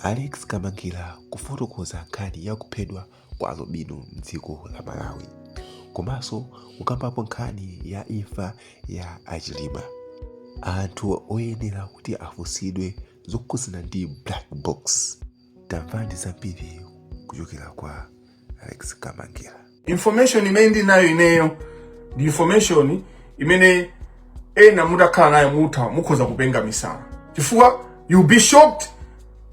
Alex Kamangila kufotokoza nkhani ya kuphedwa kwa alubino m'dziko la Malawi komanso kukambapo nkhani ya imfa ya a Chilima. Anthu oyenera kuti afunsidwe zokhudzana ndi black box. Tamvani zambiri kuchokera kwa Alex Kamangila. information imene ndi nayo ineyo ndi information imene ena mutakhala nayo mutha mukhoza kupenga misala chifukwa you'll be shocked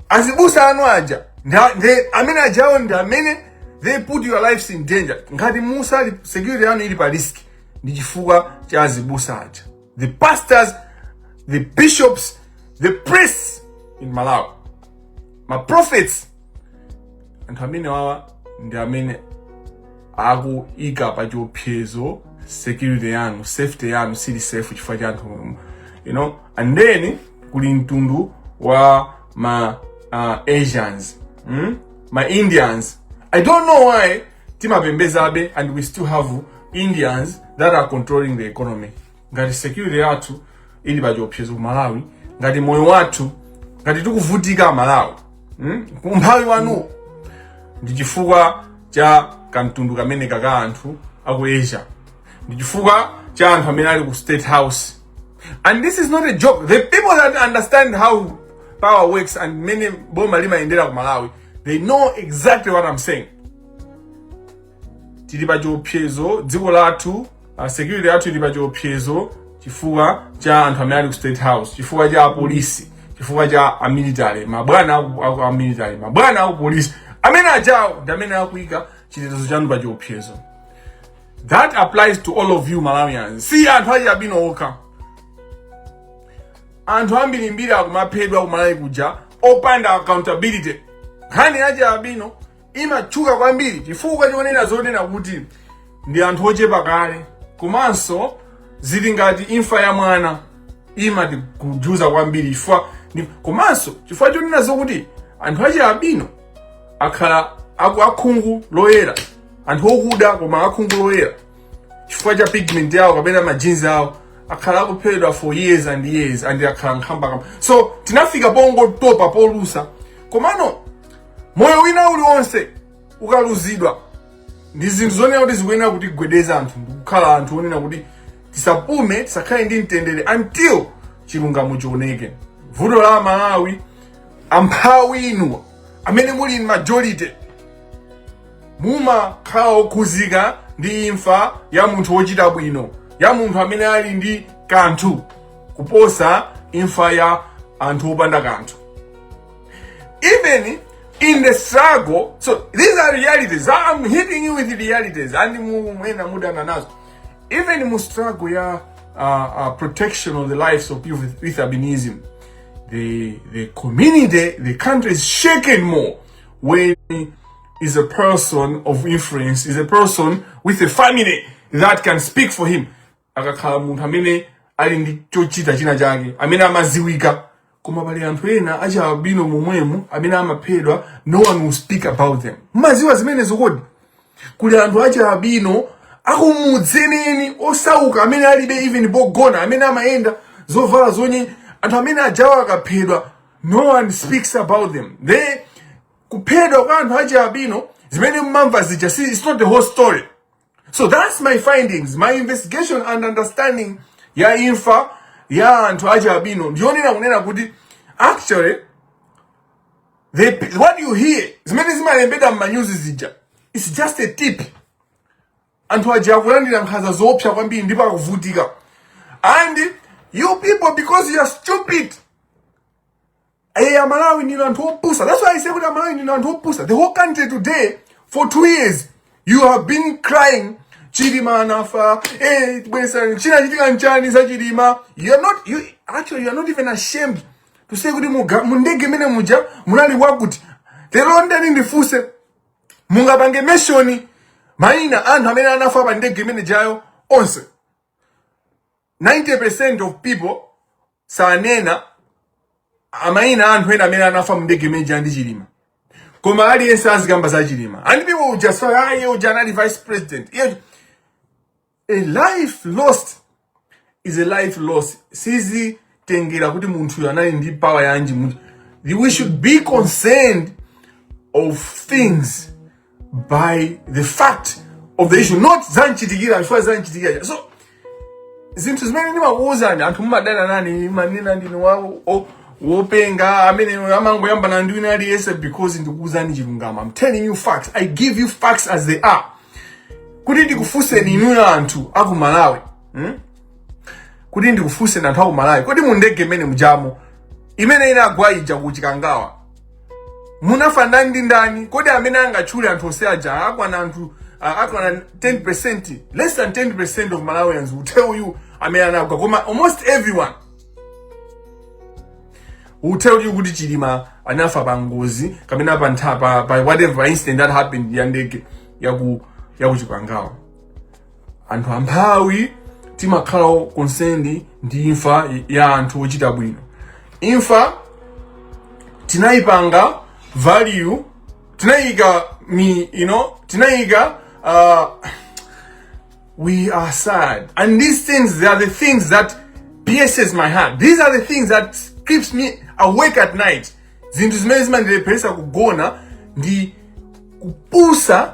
azibusa anu aja nda- nde- amene ajawo ndi amene they put your lives in danger ngati musali security yanu ili pa risk ndi chifukwa cha azibusa aja the pastors, the bishops, the priests in Malawi, ma prophets, anthu amenewawa ndi amene akuika pa chiopsezo security yanu safety yanu sili safe chifukwa cha anthu you know and then kuli mtundu wa ma uh, asians mm? ma indians i don't know why timapembezabe and we still have indians that are controlling the economy ngati security yathu ili pa chiopsezo ku malawi ngati moyo wathu ngati tikuvutika malawi hmm? umphawi wanu ndi chifukwa cha kamtundu kameneka ka anthu aku asia ndi chifukwa cha anthu amene ali ku state house and this is not a joke the people that understand how power works and mmene boma limayendera ku malawi they know exactly what i'm saying tili pa chiopsezo dziko lathu uh, security yathu ili pa chiopsezo chifukwa cha anthu amene ali ku state house chifukwa cha apolisi chifukwa cha amilitary mabwana aku- aku- amilitary mabwana aku polisi amene ajawo ndi amene akuika chitetezo chanu pa chiopsezo that applies to all of you malawians si anthu achialubino okha anthu ambirimbiri akumaphedwa kumalawi kuja opanda accountability nkhani ya achialubino imatchuka kwambiri chifukwa chonena zonena kuti ndi anthu ochepa kale komanso zili ngati imfa ya mwana imatikhudza kwambiri chifukwa ndi- komanso chifukwa chonena zokuti anthu achialubino akhala aku akhungu loyera anthu okuda koma akhungu loyera chifukwa cha pigment yawo kapena ma genes awo akhala akuphedwa for years and years and akhala nkhambakamba so tinafika pongotopa polusa komano moyo wina uliwonse ukaluzidwa ndi zinthu zonena kuti zikuyenera kutigwedeza anthu ndikukhala anthu onena kuti tisapume tisakhale ndi mtendere until chilungamo chioneke vuto la malawi amphawi inu amene muli majority mumakhala okhudzika ndi imfa ya munthu wochita bwino ya munthu amene ali ndi kanthu kuposa imfa ya anthu opanda kanthu even in the struggle so these are realities i'm hitting you with realities and mu- mwina mudana nazo even mu struggle ya uh, uh, protection of the lives of people with, with albinism the the community the country is shaken more when is a person of influence, is a person with a family that can speak for him. Akakhala munthu amene ali ndi chochita china chake, amene amadziwika. Koma pali anthu ena achialubino momwemo amene amaphedwa, no one will speak about them. Mmadziwa zimenezo kodi. Kuli anthu achialubino akumudzi eni eni osauka amene alibe even ndi pogona amene amayenda zovala zonye anthu amene ajawo akaphedwa no one speaks about them. They kuphedwa kwa anthu achialubino zimene mmamva zija si it's not the whole story so that's my findings my investigation and understanding ya imfa ya anthu achialubino ndiyonena kunena kuti actually they, what you hear zimene zimalembedwa mmanyuzi zija it's just a tip anthu aja akulandira nkhanza zoopsa kwambiri ndipo akuvutika and you people because you are stupid Hey, Amalawi ndi anthu opusa. That's why I say kuti Amalawi ndi anthu opusa. The whole country today for two years you have been crying Chilima anafa. Hey, bwezi china chachitika nchani za Chilima. You are not you actually you are not even ashamed to say kuti muga mundege imene muja munali wakuti. Lero ndani ndifunse mungapange mention maina anthu amene anafa pa ndege imene ijayo onse 90% of people sanena maina a anthu ena amene anafa mndege imene ija ndi Chilima. Koma aliyense azikamba za Chilima. And people will just say, ah, iye uja anali vice president. Iye uja-" A life lost is a life lost. Sizi tengera kuti munthuyo anali ndi power yanji mu- we should be concerned of things by the fact of the issue not zamchitikira chifukwa zamchitikira so zinthu zimene ndimakuwuzani anthu mumadana nane mmanena ndine wo- wo- wopenga amene amangoyambana ndi wina aliyense because ndikuwuzani chilungamo i'm telling you facts i give you facts as they are kuti ndikufunseni inuyo anthu aku malawi hmm? kuti ndikufunse anthu aku Malawi, kodi mu ndege mmene mujamo imene inagwa ija ku Chikangawa munafa ndani ndi ndani? Kodi amene angatchule anthu onse aja akwana anthu uh, akwana 10% less than 10% of Malawians will tell you amene anagwa, koma almost everyone will tell you kuti Chilima anafa pa ngozi kapena pa ntha pa, pa whatever incident that happened ya ndege ya ku ya ku Chikangawa. anthu amphawi timakhala concerned ndi imfa ya anthu ochita bwino imfa tinayipanga value tinayika you know tinayika uh, we are sad and these things they are the things that pierces my heart these are the things that keeps me awake at night zinthu zimene zimandilepheresa kugona ndi kupusa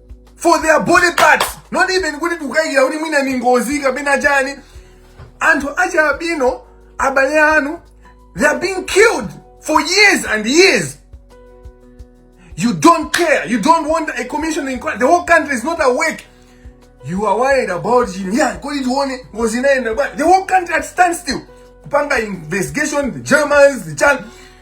for their body parts not even kuti tikukayikira kuti mwina ni ngozi kapena chani anthu achialubino abale anu they are being killed for years and years you don't care you don't want a commission inquiry the whole country is not awake you are worried about Chilima yeah kodi tione ngozi inayenda bwa the whole country at standstill kupanga investigation the germans the chan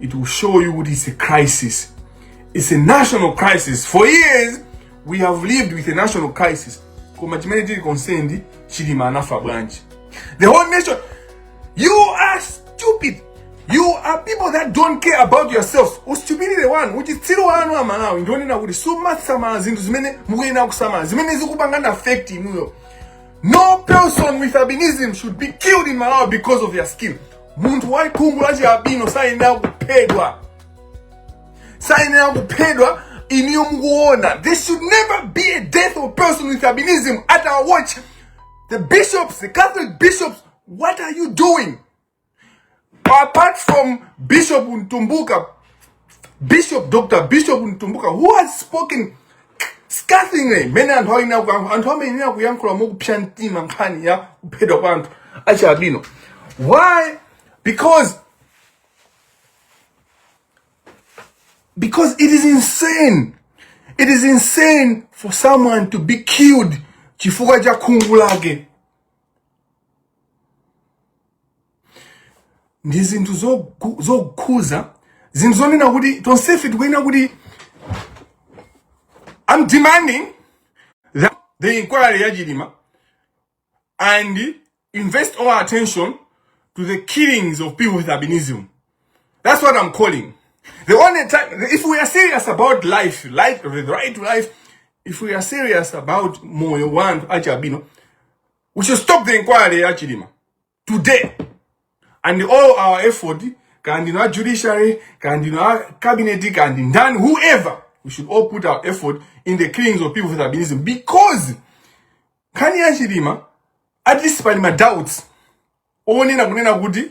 It will show you it is a crisis. It's a national crisis. For years, we have lived with a national crisis. Koma chimene tili concerned, Chilima anafa bwanji. The whole nation, you are stupid. You are people that don't care about yourselves. Ustupidity one, which is still one of Malawi. Ndoni na kuti suma samala zinthu zimene mukuyena kusamala. Zimene zikupangana affect inuyo. No person with albinism should be killed in Malawi because of their skin. munthu wa khungu la chialubino sayenera kuphedwa sayenera kuphedwa iniyo mukuona there should never be a death of person with albinism at our watch the bishops the catholic bishops what are you doing apart from bishop mtumbuka bishop dr bishop mtumbuka who has spoken scathingly mmene anthu ayenera kuyankhula anthu amayenera kuyankhula mokupsa mtima nkhani ya kuphedwa kwa anthu achialubino why because because it is insane it is insane for someone to be killed chifukwa cha khungu lake ndi zinthu zogu- zokhuza zinthu zonena kuti tonsefe tikuyenera kuti I'm demanding that the inquiry ya Chilima and invest all our attention to the killings of people with albinism. That's what I'm calling. The only time, if we are serious about life, life, the right to life, if we are serious about moyo wantu achi albino, we should stop the inquiry ya Chilima. today and all our effort kaya ndinu a judiciary kaya ndinu a cabinet kaya ndi ndani whoever we should all put our effort in the killings of people with albinism because nkhani ya chilima at least pali ma doubts onena kunena kuti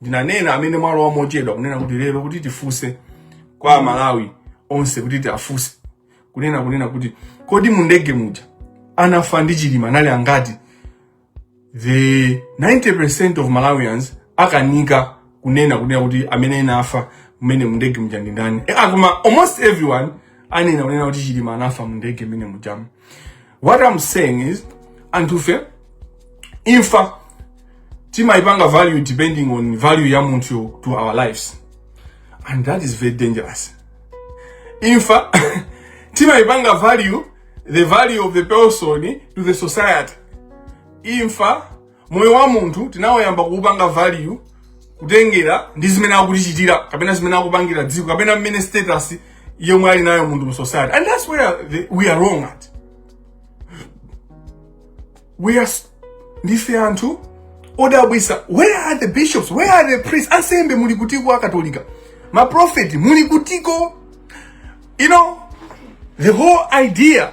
ndinanena amene mwalowa mochedwa kunena kuti lero kuti tifunse kwa amalawi onse kuti tiafunse kunena kunena kuti kodi mu ndege muja anafa ndi chilima anali angati the 90% of malawians akanika kunena kunena kuti amene anafa mmene mu ndege muja ndi ndani Eh, ah, koma almost everyone anena kunena kuti chilima anafa mu ndege mmene mujamu what i'm saying is anthufe imfa timayipanga value depending on value ya munthu to our lives and that is very dangerous imfa timayipanga value the value of the person to the society imfa moyo wa munthu tinawuyamba kuupanga value kutengera ndi zimene akutichitira kapena zimene akupangira dziko kapena mmene status yomwe ali nayo munthu mu society and that's where the, we are wrong at we are s- ndife anthu odabwisa where are the bishops where are the priests ansembe muli kutiko akatolika maprofeti muli kutiko you know the whole idea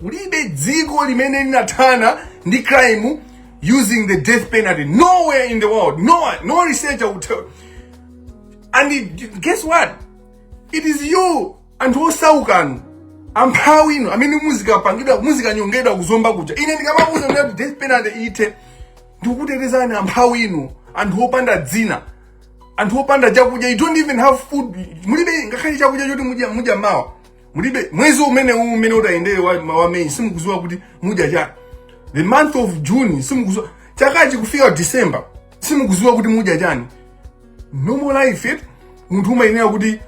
kulibe dziko limene linathana ndi crime using the death penalty nowhere in the world no, one- no researcher will tell and it, guess what it is you anthu osaukanu amphawi inu amene muzikapangidwa muzikanyongedwa ku zomba kuja ine ndikamawauza kunena kuti death penalty ithe ndikukutetezani amphawi inu anthu opanda dzina anthu opanda chakudya you don't even have food mulibe ngakhale chakudya choti mudya mudya mawa mulibe mwezi umene uwu umene utayendere wa, ma- wa meyi simukuziwa kuti mudya chani the month of june simukuziwa chakachi kufika december simukuziwa kuti mudya chani normal life eti munthu umayenera kuti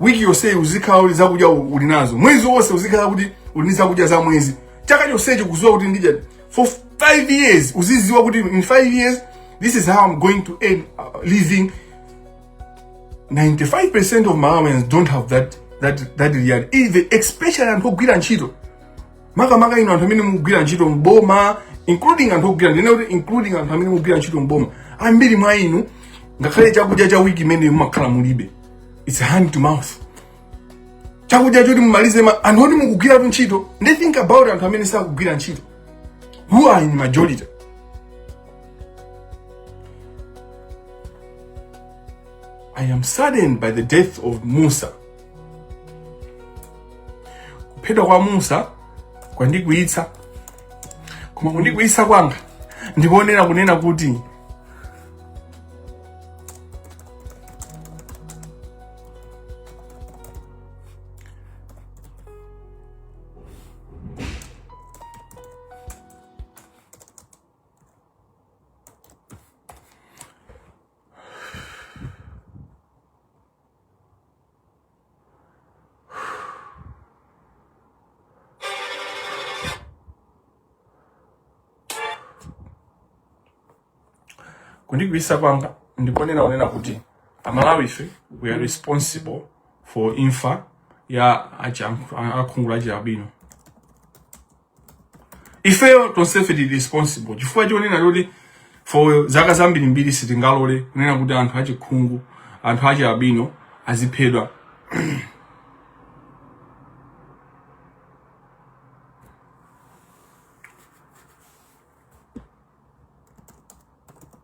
wiki yonse uzikhala uli zakudya u- uli nazo mwezi wonse uzikhala kuti uli ndi zakudya za mwezi chaka chonsecho kuziwa kuti ndidya for five years uziziwa kuti in five years this is how i'm going to earn a living 95% of Malawians don't have that that that reality. Even especially anthu ogwira ntchito. Makamaka inu anthu amene mukugwira ntchito mboma including anthu ogwira ndinene kuti including anthu amene mukugwira ntchito mboma. Ambiri mwa inu ngakhale chakudya cha wiki imene mumakhala mulibe. It's hand to mouth. Chakudya choti mumalize ma anthu oti mukugwiratu ntchito. Then think about anthu amene sakugwira ntchito. Who are in majority? I am saddened by the death of Musa. Kuphedwa kwa Musa kwandikwiyitsa. Koma kundikwiyitsa kwanga ndikonena kunena kuti kundikwiyitsa kwanga ndiponena kunena kuti amalawi ife we are responsible for imfa ya achi- akhungu la chialubino ifeyo tonsefe tili responsible chifukwa chonena choti for zaka zambirimbiri sitingalole kunena kuti anthu achikhungu anthu achialbino aziphedwa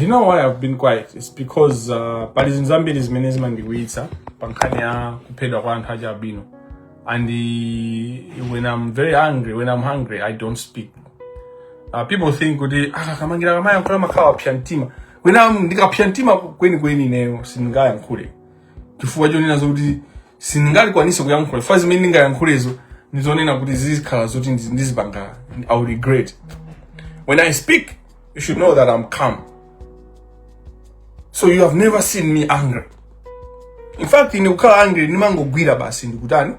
you know why I've been quiet it's because uh, pali zinthu zambiri zimene zimandikwiyitsa pa nkhani ya kuphedwa kwa anthu achialbino and uh, when I'm very angry when I'm angry I don't speak uh, people think kuti ah, kamangira kamayankhula amakhala wapsa mtima when ndikapsa mtima kwenikweni ineyo sindingayankhule chifukwa chonenazo kuti sindingathe kukwanitsa kuyankhula chifukwa zimene ndingayankhulezo ndizonena kuti zizikhala zoti ndizi- ndizipanga i will regret when i speak you should know that i'm calm so you have never seen me angry in fact ine kukhala angry ndimangogwira basi ndikutani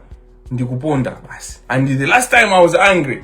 ndikuponda basi and the last time i was angry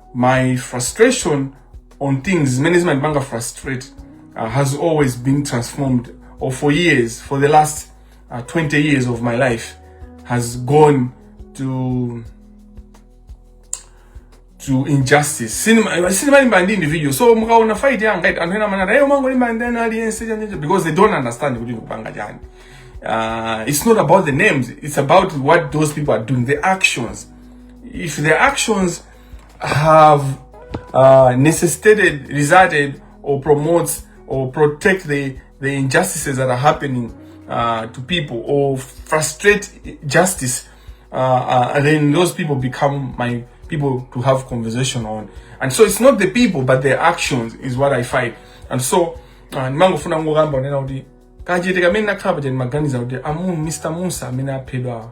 my frustration on things zimene zimandipanga frustrate uh, has always been transformed or for years for the last uh, 20 years of my life has gone to to injustice sindima sindimalimbana ndi individual so mukaona fight yanga ita anthu ena amanena a iyo amangolimbana ndi aliyense chanyecho because they don't understand kuti ndikupanga chani uh, it's not about the names it's about what those people are doing the actions if the actions have uh, necessitated, resulted, or promotes or protect the, the injustices that are happening uh, to people or frustrate justice, uh, uh, and then those people become my people to have conversation on. And so it's not the people, but their actions is what I fight. And so, uh, ndimangofuna ngokamba unena kuti kachete kamene nakhala paja ndimaganiza kuti amu mr musa amene aphedwawa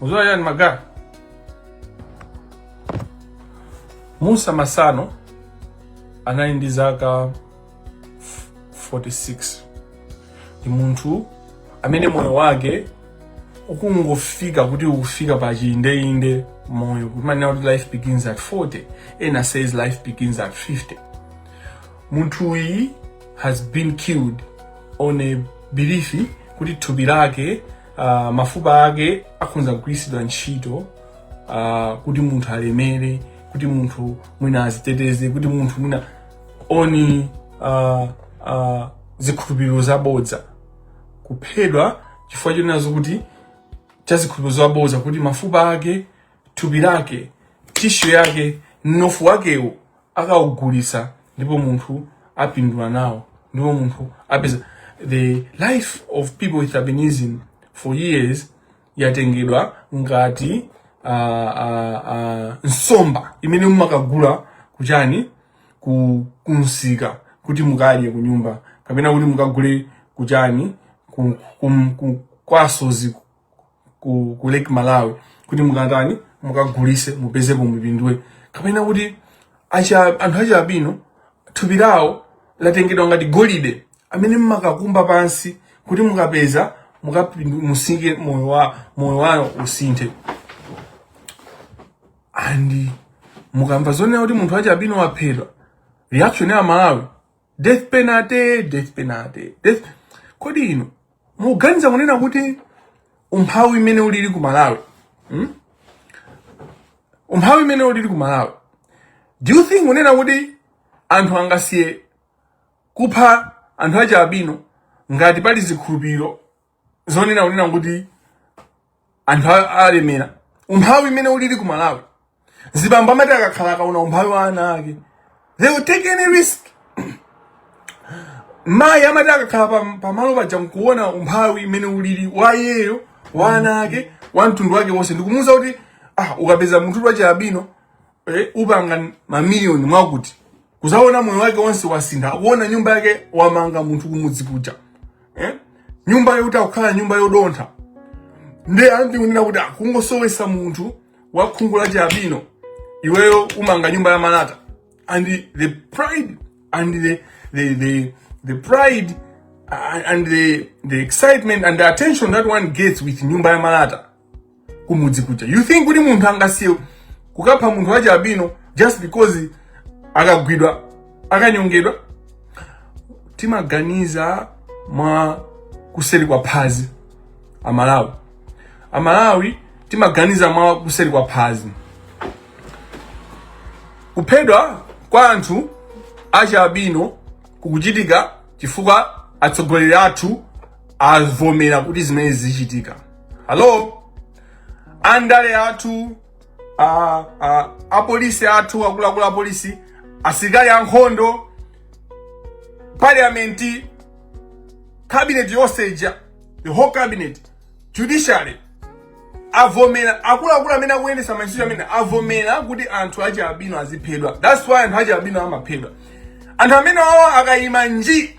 Uzula yani magari. Musa Masano anali ndi zaka 46 ndi munthu amene moyo wake ukungofika kuti ukufika pa chindeinde moyo kumanena kuti life begins at 40 ena says life begins at 50 munthuyi has been killed on a belief kuti thupi lake uh, mafupa ake akhonza kugwiritsidwa ntchito uh, kuti munthu alemere kuti munthu mwina aziteteze kuti munthu mwina oni uh, uh, zikhulupiriro zabodza kuphedwa chifukwa chonenazo kuti cha zikhulupiriro zabodza kuti mafupa ake thupi lake tissue yake mnofu wakewo akaugulitsa ndipo munthu apindula nawo ndipo munthu apeza the life of people with albinism for years yatengedwa ngati uh, uh, uh, nsomba imene mumakagula kuchani ku kumsika kuti mukadye kunyumba kapena kuti mukagule kuchani ku, ku, ku, kwasozi ku, ku lake malawi kuti mukatani mukagulitse mupezepo mupindule kapena kuti acha- anthu achi albino thupi lawo latengedwa ngati golide amene mumakakumba pansi kuti mukapeza mukapindu- musike moyo wa moyo wawo usinthe and mukamva zonena kuti munthu wachi albino waphedwa reaction ya malawi death penalty death penalty death kodi inu muganiza kunena kuti umphawi imene ulili ku malawi hmm? umphawi imene ulili ku malawi do you think kunena kuti anthu angasiye kupha anthu achi albino ngati pali zikhulupiriro zonena kunena kuti anthu alemera umphawi imene ulili ku Malawi mzibambo amati akakhala akaona umphawi wa ana ake they will take any risk mayi amati akakhala pamalo paja nkuona umphawi imene ulili wa iyeyo wa ana ake wa mtundu wake wonse ndikumuuza kuti ah ukapeza munthu wachi albino eh, upanga mamiliyoni mwakuti akuzaona moyo wake wonse wasintha akuona nyumba yake wamanga munthu kumudzi kuja eh? nyumba yoti akukhala nyumba yodontha nde ati kunena kuti akungosowesa ah, munthu wa khungu la chi albino iweyo umanga nyumba ya malata and the pride and the, the, the, the pride uh, and the, the excitement and the attention that one gets with nyumba ya malata kumudzi kuja you think kuti munthu angasiye kukapha munthu wachi albino just because akagwidwa akanyongedwa timaganiza mwa kuseri kwa phazi amalawi amalawi timaganiza mwa kuseri kwa phazi kuphedwa kwa anthu achi albino kukuchitika chifukwa atsogoleri athu avomera kuti zimenezi zichitike hello andale athu a- a- apolisi athu akuluakulu apolisi asilikali ankhondo parliament cabinet yonse ija the whole cabinet judiciary avomera akuluakulu amene akuyendesa mantchito amene avomera kuti anthu achi albino aziphedwa that's why anthu achi albino amaphedwa anthu amenewo akayima nji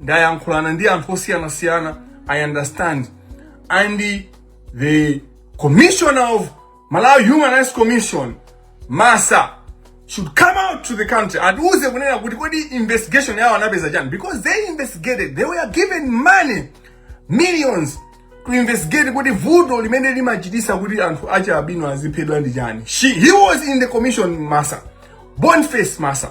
ndayankhulana ndi anthu osiyanasiyana i understand and the commissioner of malawi human rights commission masa should come out to the country atiuze kunena kuti kodi investigation yawo anapeza chani because they investigated they were given money millions to investigate kuti vuto limene limachitisa kuti anthu achi albino aziphedwa ndi chani she he was in the commission masa boniface masa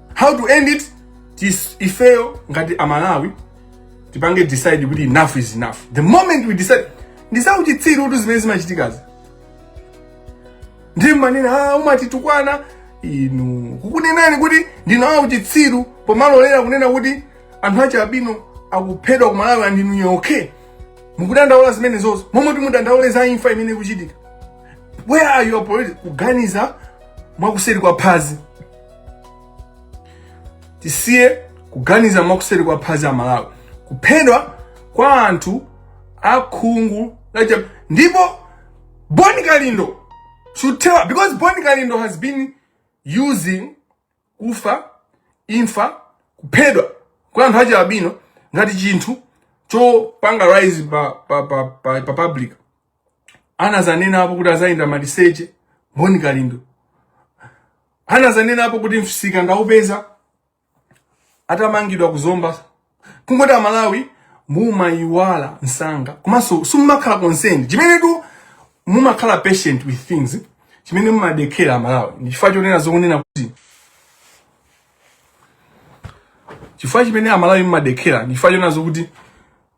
how to end it tis ifeyo ngati amalawi tipange decide kuti enough is enough the moment we decide ndisauchitsiru kuti zimene zimachitikazi ndiye manena ah, umatitukwana inu kukunenani kuti ndinawa uchitsiru pomalolera kunena kuti anthu achialubino akuphedwa ku malawi and inuyo okay mukudandaula zimenezozo momwe timudandaule za imfa imene ikuchitika where are your politics kuganiza mwakuseri kwa phazi tisiye kuganiza mwakuseri kwa phazi a malawi kuphedwa kwa anthu akhungu lacha ndipo boni kalindo should tell because boni kalindo has been using kufa imfa kuphedwa kwa anthu achialubino ngati chinthu chopanga rise pa, pa, pa, pa, pa public anazanenapo kuti azayenda maliseche boni kalindo anazanenapo kuti mfisika ndaupeza atamangidwa kuzomba kungoti amalawi mumayiwala msanga komanso simumakhala concerned chimene tu mumakhala patient with things chimene mumadekera amalawi ndi chifukwa chonena zokunena kuti chifukwa chimene amalawi mumadekera ndi chifukwa chonena zokuti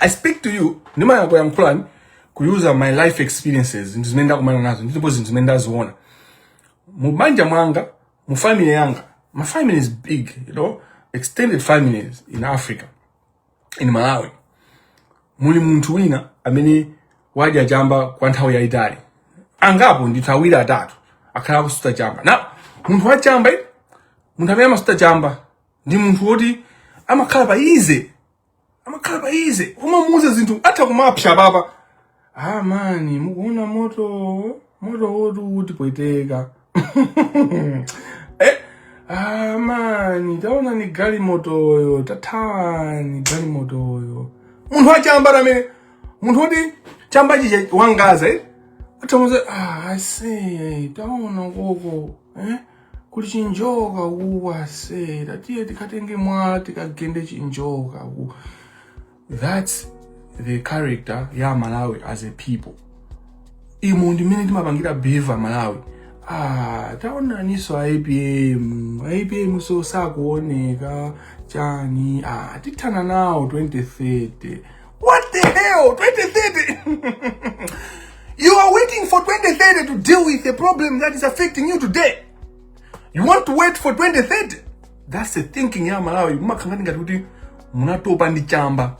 i speak to you ndimayankulankhulani kuyuuza my life experiences zinthu zimene ndakumana nazo ndipo zinthu zimene ndaziona mu banja mwanga mu family yanga my family is big you know extended families in africa in malawi muli munthu wina amene wadya chamba kwa nthawi yayitali angapo ndithu awiri atatu akhala akusuta chamba nde munthu wa chamba eh, munthu amene amasuta chamba ndi munthu woti amakhala pa ease amakhala pa ease kumamuuza zinthu atha kumapsa apapa ah mani mukuona moto moto woti utipweteka eh? ah mani taonani galimotoyo tathawani galimotoyo munthu wachamba amene munthu woti chamba chija wangaza eh? atamuuza ah, aise taona koko eh? kuli chinjoka uku ase tatiye tikatenge mwala tikagende chinjoka uku that's the character ya malawi as a people imo ndimene timapangira behave malawi ah taonaniso apm apm so sakuoneka chani ah tithana nawo 2030 What the hell? 2030? you are waiting for 2030 to deal with a problem that is affecting you today. You want to wait for 2030? That's the thinking ya Malawi. Mumakhangani ngati kuti munatopa ndi chamba.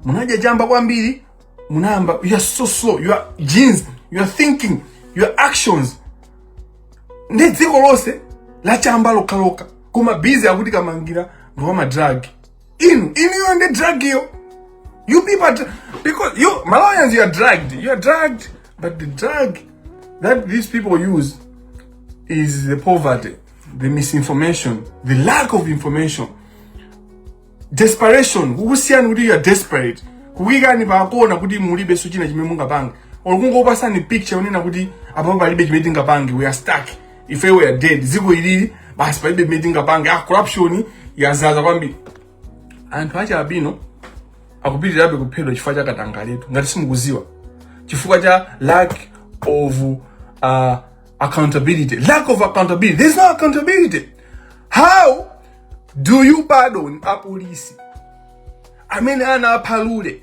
Munadya chamba kwambiri, munayamba you are so slow. Your genes, your thinking, your actions. Ndi dziko lonse la chamba lokhalokha. Koma busy akuti kumangira ndi wa madragi. inu inuyo ndi drug iyo you people because you malawians you are drugged you are drugged but the drug that these people use is the poverty the misinformation the lack of information desperation kukusiyani kuti you are desperate kukuyikani pakona kuti mulibenso china chimene mungapange olo kungopasani picture yonena kuti apapo palibe chimene tingapange we are stuck ife we are dead dziko ilili basi palibe chimene tingapange ah corruption yazaza kwambiri anthu achialubino akupitirirabe kuphedwa chifukwa cha katangaletu ngati simukuziwa chifukwa cha lack of uh, accountability lack of accountability there's no accountability how do you pardon apolisi amene anapha lule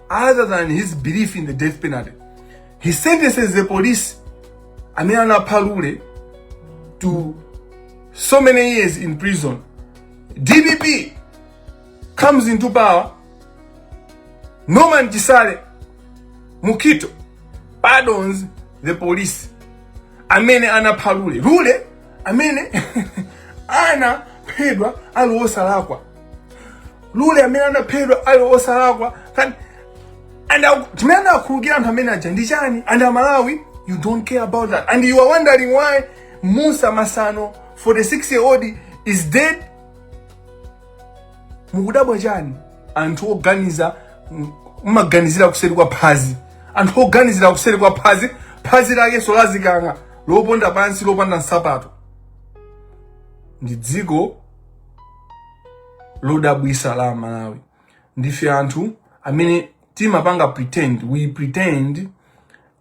other than his belief in the death penalty he sentences the police amene anapha lule to so many years in prison dpp comes into power norman chisale mukito pardons the police amene anapha lule lule amene anaphedwa ali wosalakwa lule amene anaphedwa ali osalakwa and chimene anakhululukira anthu amene aja ndi chani and amalawi you don't care about that and you are wondering why musa masano 46 year old is dead mukudabwa chani anthu oganiza m- mmaganizira kuseri kwa phazi anthu oganizira kuseri kwa phazi phazi lakenso lazikang'a loponda pansi lopanda nsapato ndi dziko lodabwisa la Malawi ndife anthu amene timapanga pretend we pretend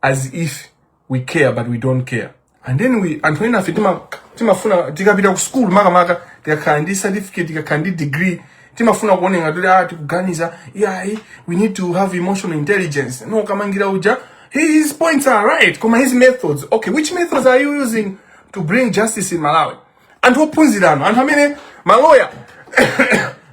as if we care but we don't care and then anthu enafe tima timafuna tikapita ku school makamaka tikakhala ndi certificate tikakhala ndi degree timafuna kuoneka kuti ah tikuganiza yeah we need to have emotional intelligence no kamangira uja his points are right koma his methods okay which methods are you using to bring justice in Malawi anthu ophunzira inu anthu amene maloya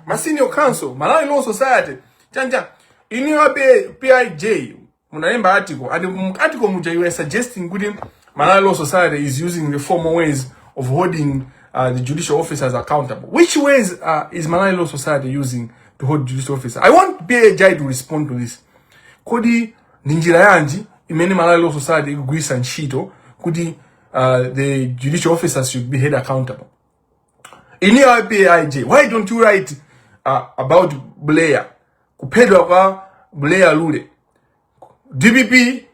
ma senior counsel malawi law society chanja inuyo a pij munalemba article and mu article muja you were suggesting kuti malawi law society is using the formal ways of holding uh, the judicial officers accountable which ways uh, is malawi law society using to hold judicial officers i want pij to respond to this kodi ndi njira yanji imene malawi law society ikugwiritsa ntchito kuti uh, the judicial officers should be held accountable. In your IPIJ, why don't you write uh, about Blair? Kupedwa kwa Blair Lule. DPP,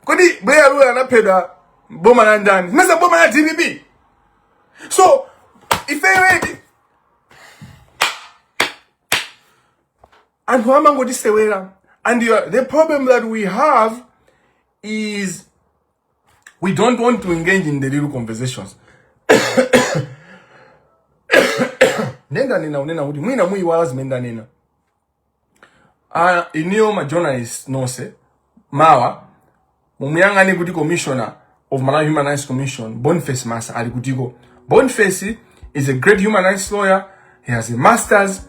kodi Blair Lule anapedwa boma la ndani? Mesa boma la DPP. So, if I read anthu amangoti sewera and the problem that we have is We don't want to engage in the real conversations. Ine ndanena kunena kuti mwina muiwala zimene ndanena. Ah, inuyo ma journalist nonse mawa mumuyang'ane kuti commissioner of Malawi Human Rights Commission Boniface Massa ali kutiko. Boniface He's a great human rights lawyer. He has a master's.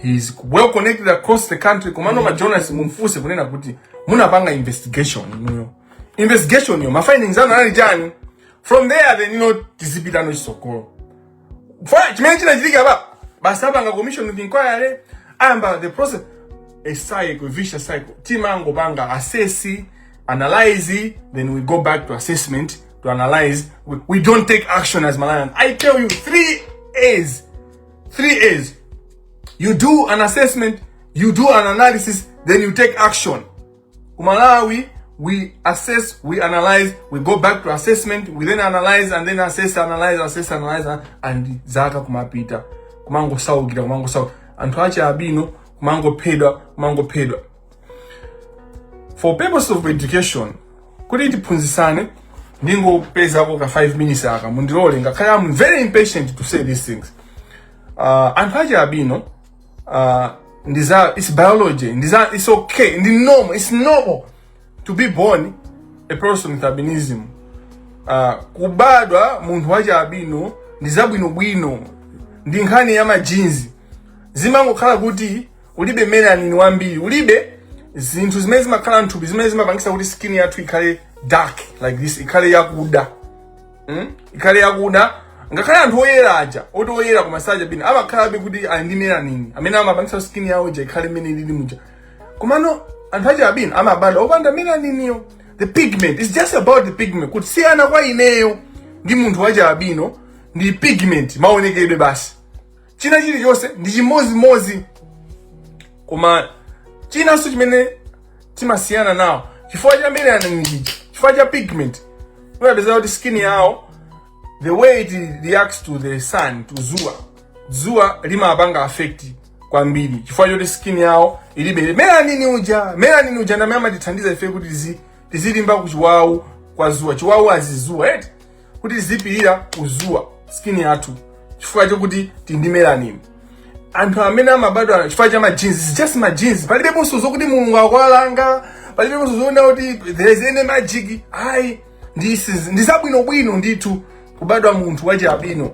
He's well connected across the country. Komano ma journalists mumfuse kunena kuti munapanga investigation inuyo. Investigation yo, ma findings anu anali chani? From there then you know tizipita no chisokolo. Fine, chimene chinachitika apa basi apanga commission of inquiry amba the process a cycle, a vicious cycle. Timango banga assess, analyze, then we go back to assessment to analyze. We, we don't take action as Malawians. I tell you, three A's. Three A's. You do an assessment, you do an analysis, then you take action. Kumalawi, we assess, we analyze, we go back to assessment, we then analyze and then assess, analyze, assess, analyze, and zaka kumapita. Kumango saukira, kumango saukira. Anthu achi abino, kumango pedwa, kumango pedwa. for purpose of education kuti tiphunzisane ndingopezako ka 5 minutes aka mundilole ngakhale am very impatient to say these things uh, anthu achialubino uh, ndiza it's biology ndiza it's okay ndi normal it's normal to be born a person with albinism uh, kubadwa munthu wachialubino ndizabwinobwino ndi nkhani ya majinzi zimangokhala kuti ulibe melanin wambiri ulibe zinthu zimene zimakhala mthupi zimene zimapangisa kuti skin yathu ikhale dark like this ikhale yakuda mm? ikhale yakuda ngakhale anthu oyera aja oti oyera koma osakhala achialubino amakhala kuti ali ndi melanin amene amapangisa skin yawo ija ikhale mmene ilili muja komano anthu achialubino amabadwa opanda melaniniyo the pigment it's just about the pigment kusiyana kwa ineyo ndi munthu wachialubino ndi pigment maonekedwe basi china chilichonse ndi chimodzimodzi koma chinanso chimene timasiyana nawo chifukwa cha melanin ija chifukwa cha pigment umapeza kuti skin yawo the way it reacts to the sun to zuwa zuwa limapanga affect kwambiri chifukwa choti skin yawo ilibe melanin uja melanin uja ndamene amatithandiza ife kuti tizi- tizilimba kuchiwawu kwa zuwa chiwawu cha dzuwa eti kuti tizipirira kuzuwa skin yathu chifukwa chokuti tili ndi melanin anthu amene amabadwa chifukwa cha ma genes it's just ma genes palibeponso zokuti mulungu akuwalanga palibeponso zonena kuti there is any magic ayi ndi si- ndi zabwinobwino ndithu kubadwa munthu wachialubino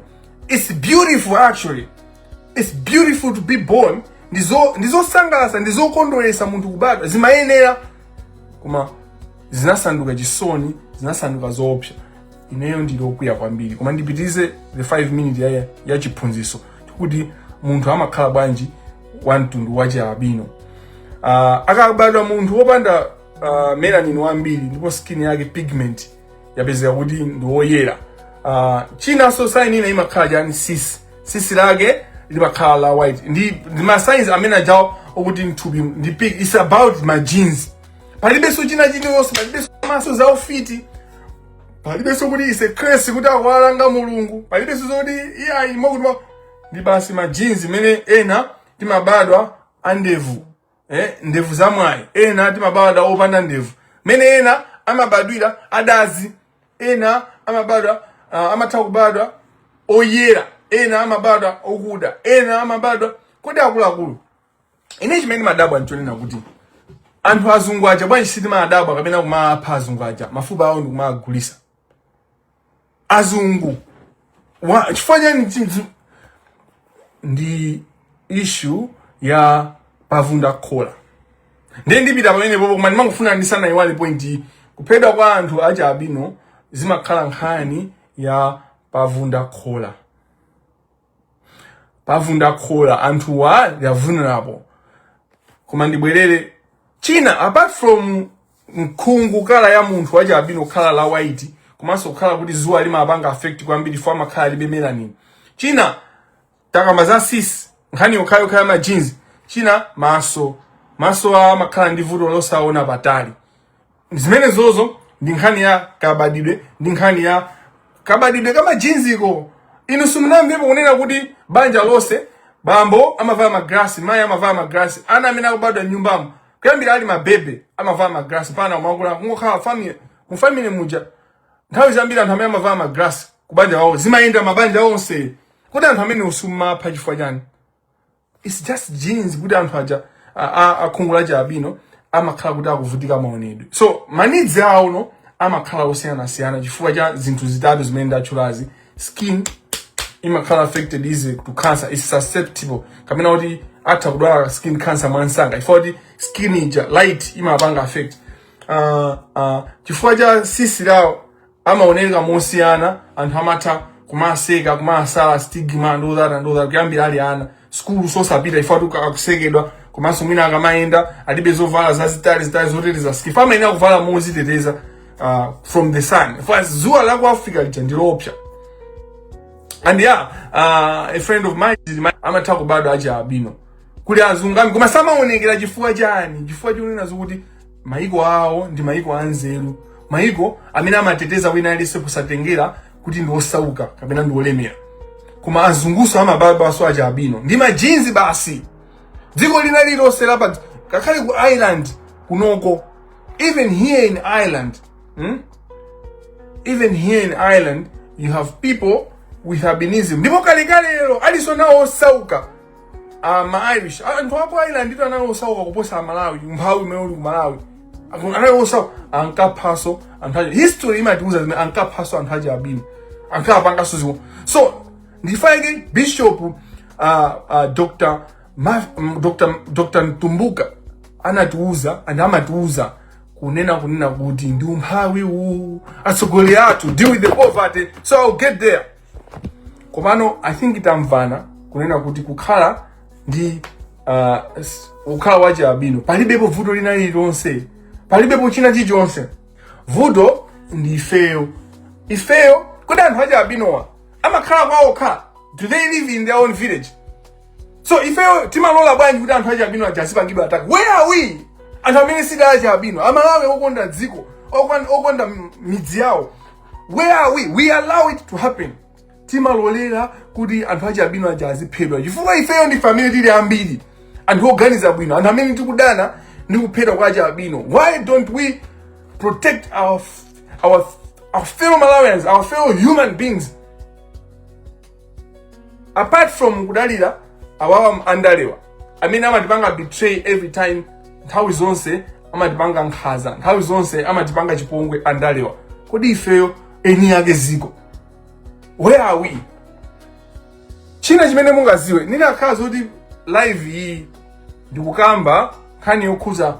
it's beautiful actually it's beautiful to be born ndizo ndizosangalatsa ndizokondweretsa munthu kubadwa zimayenera koma zinasanduka chisoni zinasanduka zoopsa ineyo ndili okwiya kwambiri koma ndipitirize the 5 minute ya, ya chiphunzitso kuti munthu amakhala bwanji wa mtundu wa chialubino uh, akabadwa munthu wopanda uh, melanin wambiri ndipo skin yake pigment yapezeka kuti ndi woyera uh, chinanso sign ina imakhala chani sisi tsitsi lake limakhala la white ndi, ndi ma signs amene ajawo okuti mthupi ndi pig it's about ma genes palibenso china chilichonse palibenso mwazo za ufiti palibenso kuti it's a curse kuti akuwalanga mulungu palibenso zoti iyayi mokuti ndi basi ma genes mmene ena timabadwa andevu eh, ndevu za mwayi ena timabadwa opanda ndevu mene ena amabadwira adazi ena amabadwa uh, amatha kubadwa oyera ena amabadwa okuda ena amabadwa kodi akuluakulu ine chimene ndimadabwa nchonena kuti anthu azungu aja bwanji sitimadabwa kapena kumapha azungu aja mafupa awo nkumawagulisa azungu Wa- chifukwa chani zi- zi- ndi issue ya pavunda khola ndiye ndipita pamenepopo koma ndimangofuna ndisanayiwale point iyi kuphedwa kwa anthu achialubino zimakhala nkhani ya pavunda khola pavunda khola anthuwa vulnerable koma ndibwerere china apart from khungu kaya la munthu wachi albino kukhala la white komanso kukhala kuti zuwa limapanga affect kwambiri ife amakhala alibe melanin china takamba za tsitsi nkhani yokhayokha ya ma genes china maso maso awo amakhala ndi vuto losaona patali zimenezozo ndi nkhani ya kabadidwe ndi nkhani ya kabadidwe ka ma genes iko inu simunamvepo kunena kuti banja lonse bambo amavala magrasi mayi amavala magrasi ana amene akubadwa nyumbamo kuyambira ali mabebe amavala magrasi pena umakula kungokhala family mu family muja nthawi zambiri anthu amene amavala magrasi kubanja wawo zimayenda mabanja onse kuti anthu amene osamapha chifukwa chani It's just genes kuti anthu aja a- a- akhungu lachi albino amakhala kuti akuvutika maonedwe so ma needs awo no amakhala osiyanasiyana chifukwa cha zinthu zitatu zimene ndatchulazi skin imakhala affected easy to cancer susceptible kapena kuti atha kudwala skin cancer mwamsanga chifukwa kuti skin ija light imapanga affect uh, uh, chifukwa cha tsitsi lawo amaoneka mosiyana anthu amatha kumaseka kumasala stigma and all that and all that kuyambira ali ana sukulu osapita chifukwa kuti akusekedwa komanso mwina akamayenda alibe zovala zazitali zitali zoteteza skin ife amayenera kuvala moziteteza uh, from the sun ife zuwa la ku africa lija ndi loopsa and yeah uh, a friend of mine is my- amatha kubadwa achi albino kuli azungunu koma samaonekera chifukwa chani chifukwa chonena zokuti mayiko awo ndi mayiko anzeru mayiko amene amateteza wina aliyense kusatengera kuti ndi osauka kapena ndi olemera koma azunguso amabadwaso achi albino ndi ma genes basi dziko lina lililonse lapa ngakhale ku ireland kunoko even here in ireland hmm? even here in ireland you have people with albinism ndipo kalekale lero aliso nawo osauka Ah, ma Irish. Ah, anthu aku Ireland itu anali osauka kuposa a Malawi, umphawi umene uli ku Malawi. Aku- Anali osauka, ankaphaso anthu aja. History imatiuza zimene ankaphaso anthu achi albino. Ankapanganso izi ko. So, ndi chifukwa chake Bishop uh, uh, Dr. Ma, m- Dr. Dr. Mtumbuka anatiuza and amatiuza kunena kunena kuti ndi umphawi uwu atsogoleri athu deal with the poverty so I'll get there komano i think tamvana kunena kuti kukhala ndi uh, s- kukhala wachi albino palibepo vuto lina lililonse palibepo china chilichonse vuto ndi ifeyo ifeyo kodi anthu achi albinowa amakhala kwaokha do they live in their own village so ifeyo timalola bwanji kuti anthu achi albino aja azipangidwa attack where are we anthu amene siali achi albino amalawi okonda dziko okon- okonda m- midzi yawo where are we we allow it to happen timalolera kuti anthu achi albino aja aziphedwa chifukwa ifeyo ndi family tili ambiri anthu oganiza bwino anthu amene tikudana ndi kuphedwa kwa achi albino why don't we protect our, our, our fellow malawians our fellow human beings apart from kudalira awawa andalewa amene amatipanga betray every time nthawi zonse amatipanga nkhaza nthawi zonse amatipanga chipongwe andalewa kodi ifeyo eni yake ziko where are we china chimene mungaziwe ndikanakhala zoti live iyi ndikukamba nkhani yokhuza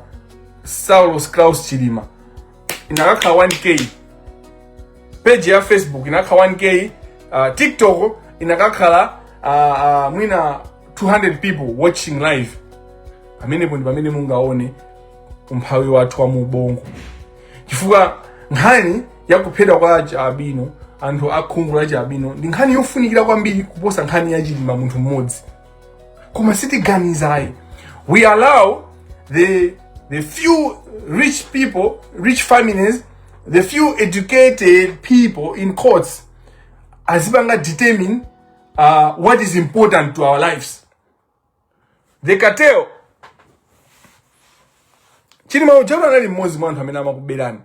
saulos Klaus chilima inakakhala 1k page ya facebook inakakhala 1k uh, tiktok inakakhala uh, uh, mwina 200 people watching live pamenepo ndi pamene mungaone umphawi wathu wa muubongo chifukwa nkhani ya kuphedwa kwa achi albino anthu akhungu la achi albino ndi nkhani yofunikira kwambiri kuposa nkhani ya chilima munthu mmodzi koma sitiganizayi we allow the the few rich people rich families the few educated people in quotes azipanga determine uh, what is important to our lives the cartel chilima uja anali mmodzi mwa anthu amene amakuberani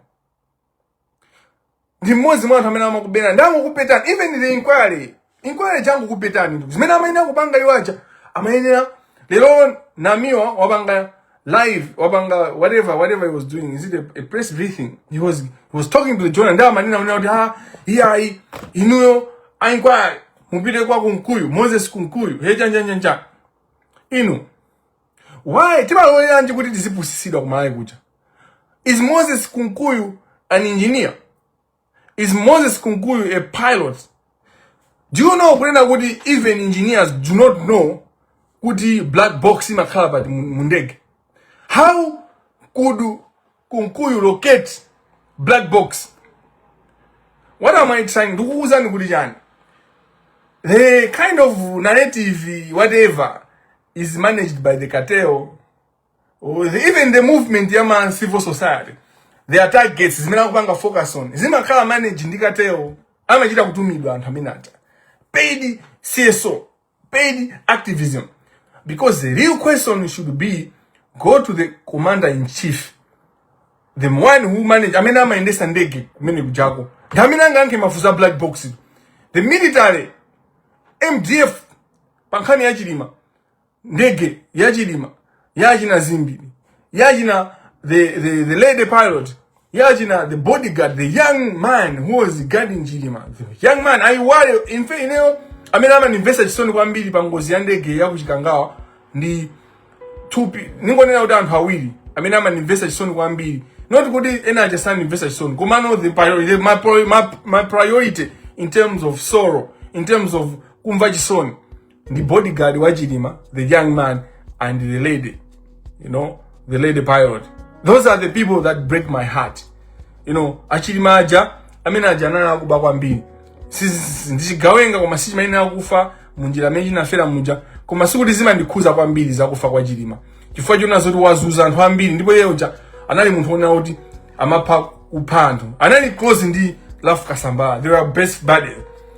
ndi mmodzi mwa anthu amene amakuberani ndangokuphethani even the inquiry inquiry ndangokuphethani ndugu zimene amayenera kupanga iwo aja amayenera lero namiwa wapanga live wapanga whatever whatever he was doing is it a, a press briefing he was he was talking to the journal ndiye amanena kunena kuti ha iyayi inuyo a inquiry mupite kwa kunkuyu moses kunkuyu hejanjanjanja inu why timaloleranji kuti tizipusisidwa ku Malawi kuja is moses kunkuyu an engineer Is Moses Kunkuyu a pilot? Do you know kunena kuti even engineers do not know kuti black box imakhala pati mu ndege? How could Kunkuyu locate black box? What am I trying? Ndikukuuzani kuti chani? The kind of narrative whatever is managed by the cartel even the movement ya ma civil society their targets zimene akupanga focus on zimakhala managed ndi cartel amachita kutumidwa anthu amene aja paid cso paid activism because the real question should be go to the commander in chief the one who manage amene amayendesa ndege kumene kujako ndi amene angayankhe mafunso a black box the military mdf pa nkhani ya chilima ndege ya chilima ya achina zimbiri ya achina the, the, the lady pilot ya achina the bodyguard the young man who was guarding chilima the young man I worry in fact ineyo amene amandimvesa chisoni kwambiri pa ngozi ya ndege ya kuchikangawa ndi nthungwa ndingonena kuti anthu awiri amene amandimvesa chisoni kwambiri not kuti ena aja sandimvesa chisoni komano the priority, the, my, pri- my, my priority in terms of sorrow in terms of kumva chisoni ndi bodyguard wa chilima the young man and the lady you know the lady pilot those are the people that break my heart you know achilima aja amene aja anali akuba kwambiri Si- si- si- ndichigawenga koma sichimayenera kufa munjira imene chinafera muja koma sikuti zimandikhuza kwambiri zakufa kwa chilima chifukwa chona zoti wazunza anthu ambiri ndipo iye uja anali munthu wonena kuti amapha kupha anthu anali close ndi rafu kasambala they were best buddies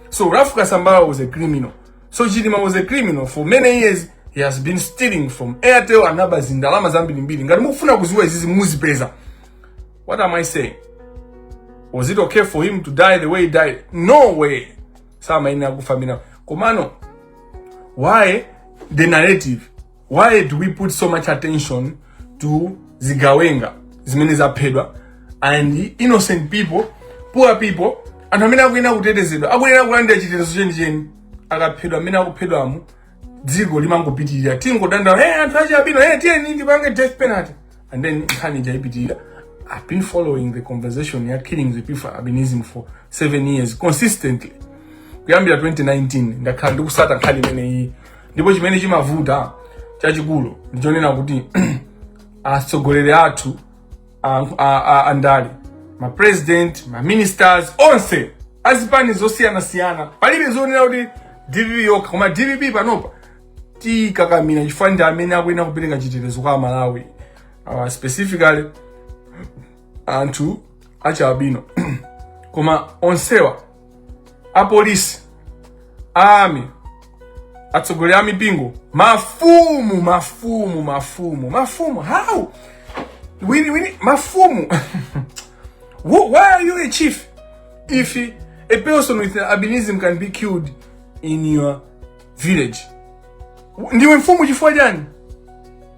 so rafu kasambala was a criminal So Chilima was a criminal for many years. He has been stealing from Airtel and other zindalama zambiri mbiri. Ngati mukufuna kuziwa izizi muzipeza. What am I saying? Was it okay for him to die the way he died? No way. Sama ina kufa mina. Komano, why the narrative? why do we put so much attention to zigawenga zimene zaphedwa and innocent people poor people anthu amene akuyenera kutetezedwa akuyenera kulandira chitetezo chenicheni akaphedwa amene akuphedwamu dziko limangopitirira tingodandaula hey, anthu achialubino hey, tiyeni tipange death penalty and then nkhani ija ipitirira i've been following the conversation ya killing the people with albinism for seven years consistently kuyambira 2019 ndakhala ndikusata nkhani imeneyi ndipo chimene chimavuta chachikulu ndichonena kuti atsogoleri athu andale mapresident maministers onse azipani zosiyanasiyana palibe zonena kuti dpp yokha koma dpp panopa tiikakamira chifukwa ndi amene akuyenera kupereka chitetezo kwa amalawi uh, specifically anthu achialubino koma onsewa apolisi a army atsogoleri a mipingo mafumu mafumu mafumu mafumu how we need we need mafumu Wh- why are you a chief if a person with albinism can be killed in your village ndiwe mfumu chifukwa chani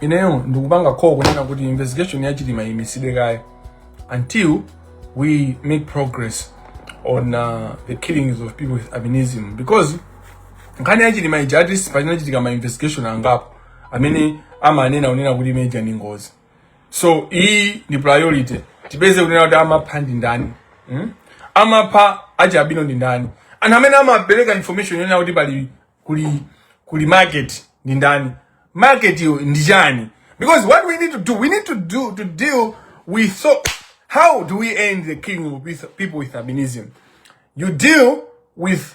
ineyo ndikupanga call kunena kuti investigation ya chilima iimitsidwe kaye until we make progress on uh, the killings of people with albinism because nkhani ya chilima ija at least pachinachitika ma investigation angapo amene amanena kunena kuti imene ija ndi ngozi so iyi ni priority tipeze kunena kuti amapha ndi ndani hmm? amapha achi albino ndi ndani anthu amene amapereka information yonena kuti pali kuli kuli market ndi ndani market yo ndi chani because what we need to do we need to deal with so how do we end the killing of people with albinism you deal with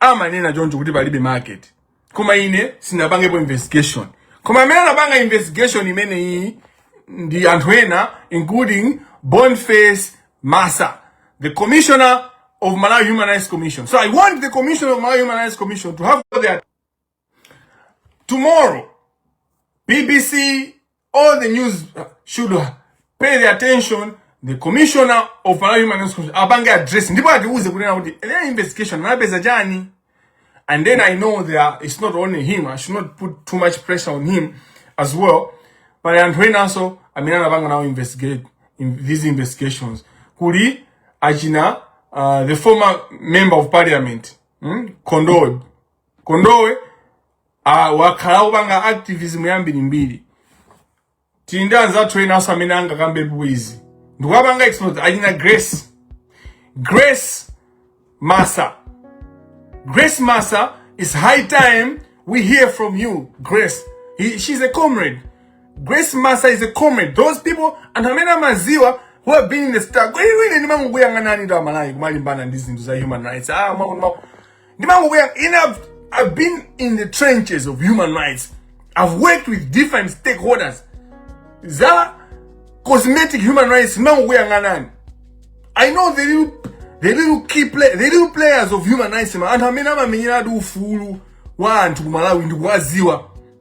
amanena choncho kuti palibe market koma ine sinapangepo investigation koma amene anapanga investigation imeneyi ndi anthu ena including boniface massa the commissioner of malawi human rights commission so i want the commissioner of malawi human rights commission to have their Tomorrow, BBC, all the news should pay the attention the commissioner of Malawi Human Rights Commission apange address ndipo atiuze kunena kuti the investigation anapeza chani and then I know there are, it's not only him I should not put too much pressure on him as well but anthu enanso amene anapanga nawo investigate in these investigations kuli achina uh, the former member of parliament hmm? Kondowe Kondowe ah, wakhala kupanga activism yambiri mbiri tili ndi anzathu ena also amene angakambepo izi ndikuwapanga expose achina grace grace massa grace massa it's high time we hear from you grace He, she's a comrade grace massa is a comrade those people anthu amene amaziwa who have been in the struggle inu ndimangokuyang'ananitu amalawi kumalimbana ndi zinthu za human rights ah, mwa- mwa- ndimangokuya ine I've, I've been in the trenches of human rights I've worked with different stakeholders za cosmetic human rights ndimangokuyang'anani I know the little the little key play the little players of human rights koma anthu amene amamenyeradi ufulu wa anthu ku Malawi ndikuwaziwa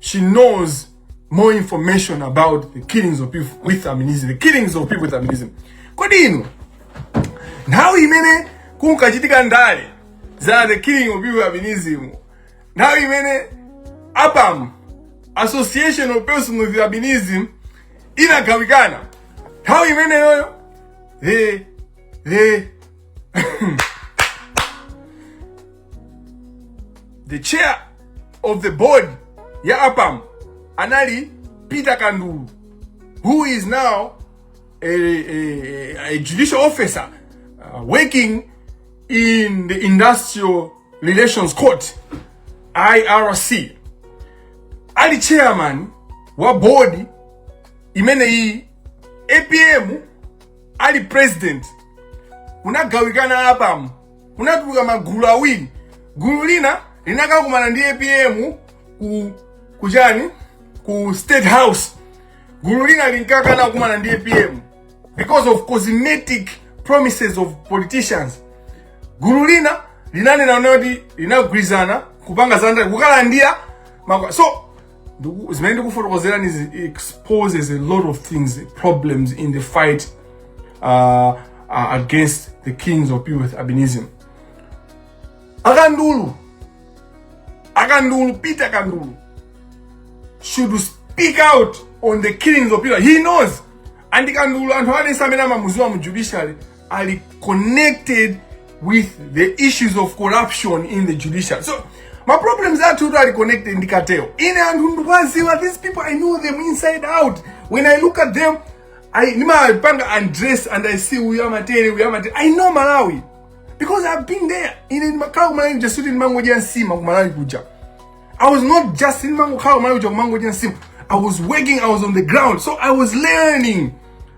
She knows more information about the killings of people with albinism, the killings of people with albinism. Kodi inu nthawi imene kunkachitika ndale za the killing of people with albinism, nthawi imene APAM, Association of Persons with Albinism, inagawikana, nthawi imeneyoyo the the the chair of the board ya apam anali peter kandulu who is now a, a, a judicial officer uh, working in the industrial relations court irc ali chairman wa board imeneyi apm ali president unagawikana apamu kunatuluka magulu awiri gulu lina linakakumana ndi apm ku kuchani ku state house gulu lina linkakana kukumana ndi apm because of cosmetic promises of politicians gulu lina linanena kuti linagwirizana kupanga zandale kukalandira makwa so Ndiku- zimene ndikufotokozerani izi exposes a lot of things problems in the fight uh, uh, against the kings of people with albinism akandulu akandulu peter kandulu should speak out on the killings of people he knows and kandulu anthu adense amene amamuziwa mu judiciary ali connected with the issues of corruption in the judiciary so ma problems athutu ali connected ndi cartel ine anthu ndikuwaziwa these people i know them inside out when i look at them I, ndimawapanga undress and i see uyu amatere uyu amatere i know malawi because i've been there ine ndimakhala kumalawi kuja sikuti ndimangodya nsima kumalawi kuja i was not just ndimangokhala kumalawi kuja kumangodya nsima i was working i was on the ground so i was learning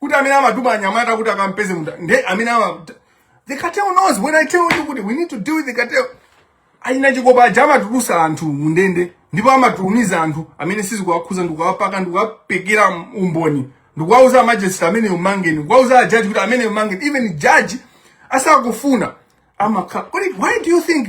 kuti amene amatuma anyamata kuti akampeze munthu nde amene ama the cartel knows when i tell you kuti we need to deal with the cartel alina chikopa aja amatulusa anthu mundende ndipo amatumiza anthu amene sizikuwakhuza ndikuwapaka ndikuwapekera umboni ndikuwauza amajesti ameneyu umangeni ndikuwauza ajaji kuti ameneyu umangeni even jaji asakufuna amakhala kodi why do you think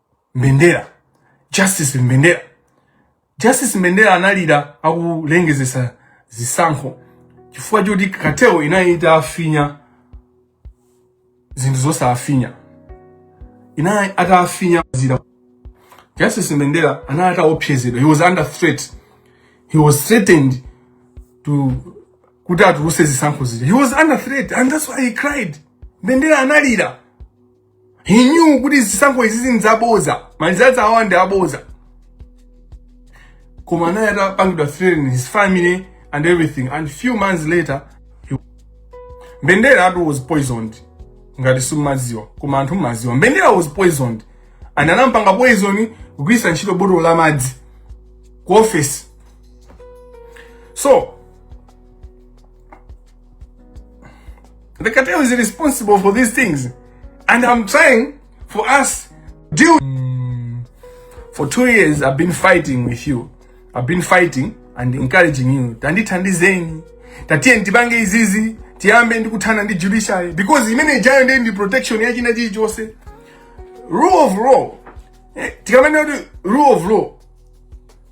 mbendera justice mbendera justice mbendera analira akulengezesa zisankho chifukwa choti cartel inali itafinya zinthu zosafinya inali itafinya zija justice mbendera anali ataopsezedwa he was under threat he was threatened to kuti atuluse zisankho zija he was under threat and that's why he cried mbendera analira he knew kuti zisankho izi ndi zaboza malizatsi awa ndi aboza koma anali atapangidwa threaten his family and everything and few months later he... mbendera atu was poisoned ngati simumaziwa koma anthu mumaziwa mbendera was poisoned and anampanga poison kugwiritsa ntchito botolo la madzi ku office so The cartel is responsible for these things. And I'm trying for us to deal. Mm. For two years, I've been fighting with you. I've been fighting and encouraging you. Tandithandizeni. Tatiyeni tipange izizi. Tiyambe ndi kuthana ndi judiciary. Because imene ijayo ndiye ndi protection ya china chilichonse. Rule of law. Eh, tikamanena kuti rule of law.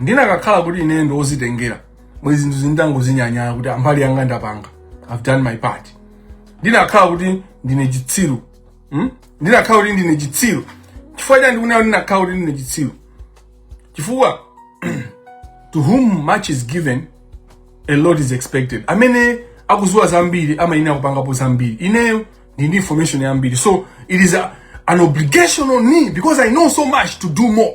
ndinakakhala kuti ine ndi ozitengera mwezi zinthu izi nditangozinyanyala kuti a mbali yanga ndapanga i've done my part ndinakakhala kuti ndine chitsiru hmm? ndinakakhala kuti ndine chitsiru chifukwa chani ndikunena kuti ndinakakhala kuti ndine chitsiru chifukwa to whom much is given a lot is expected amene akuziwa zambiri amayenera kupangapo zambiri ineyo ndili ndi information yambiri so it is a, an obligation on me because i know so much to do more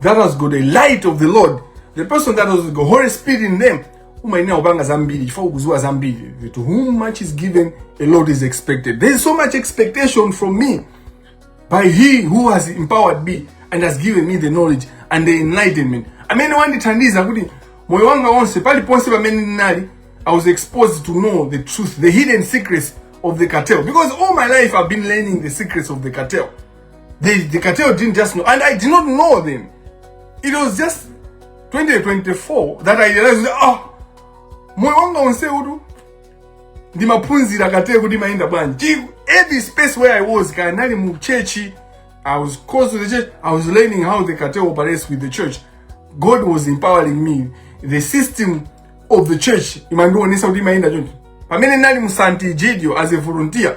that has got a light of the lord the person that has got holy spirit in them umayenera kupanga zambiri chifukwa ukuziwa zambiri to whom much is given a lot is expected there is so much expectation from me by he who has empowered me and has given me the knowledge and the enlightenment amene wandithandiza kuti moyo wanga wonse paliponse pamene ndinali i was exposed to know the truth the hidden secrets of the cartel because all my life i've been learning the secrets of the cartel They, the cartel didn't just know. And I did not know them. It was just 2024 that I realized, oh, moyo wanga onse uwu ndimaphunzira cartel kuti imayenda bwanji every space where i was kaya ndinali mu church i was close to the church i was learning how the cartel operates with the church god was empowering me the system of the church imandionesa kuti imayenda choncho pamene ndinali mu Sant'Egidio as a volunteer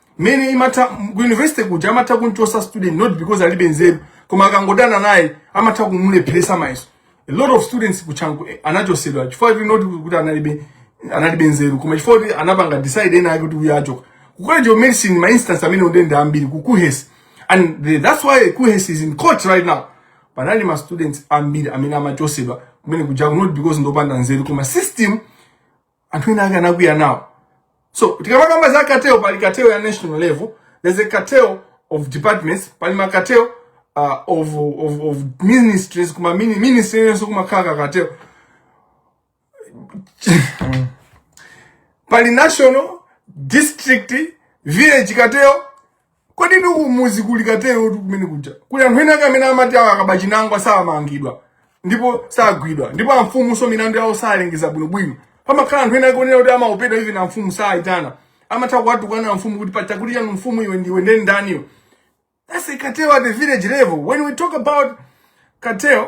mmene imakhala ku university kuja amatha kumuchosa student not because alibe nzeru koma akangodana naye amatha kumulepheresa mayeso a lot of students ku Chanco eh, anachosedwa chifukwa kuti not kuti analibe analibe nzeru koma chifukwa kuti anapanga decide ena ake kuti uyu achoka ku college of medicine ma instance amenewo nde nda ambiri ku kuhes and the, that's why kuhes is in court right now panali ma students ambiri amene amachosedwa kumene ku Chanco not because ndopanda nzeru koma system anthu enaake anakwiya nawo so tikamakamba za cartel pali cartel ya national level there's a cartel of departments pali ma cartel uh, of, of, of ministries kuma mini ministry yenso kumakhala ka cartel pali national district village cartel kodi ndi kumudzi kuli cartel-tu kumene kuja kuli anthu ena ake amene amati awa akaba chinangwa samangidwa ndipo sagwidwa ndipo amfumu so milandu yawo salengeza bwinobwino pamakhala anthu ena ake onena kuti amaopedwa even amfumu saayitana amatha kuwatukwana amfumu kuti pachakuti chanu mfumu iwe ndiwe nde ndi ndani iwe that's a cartel at the village level when we talk about cartel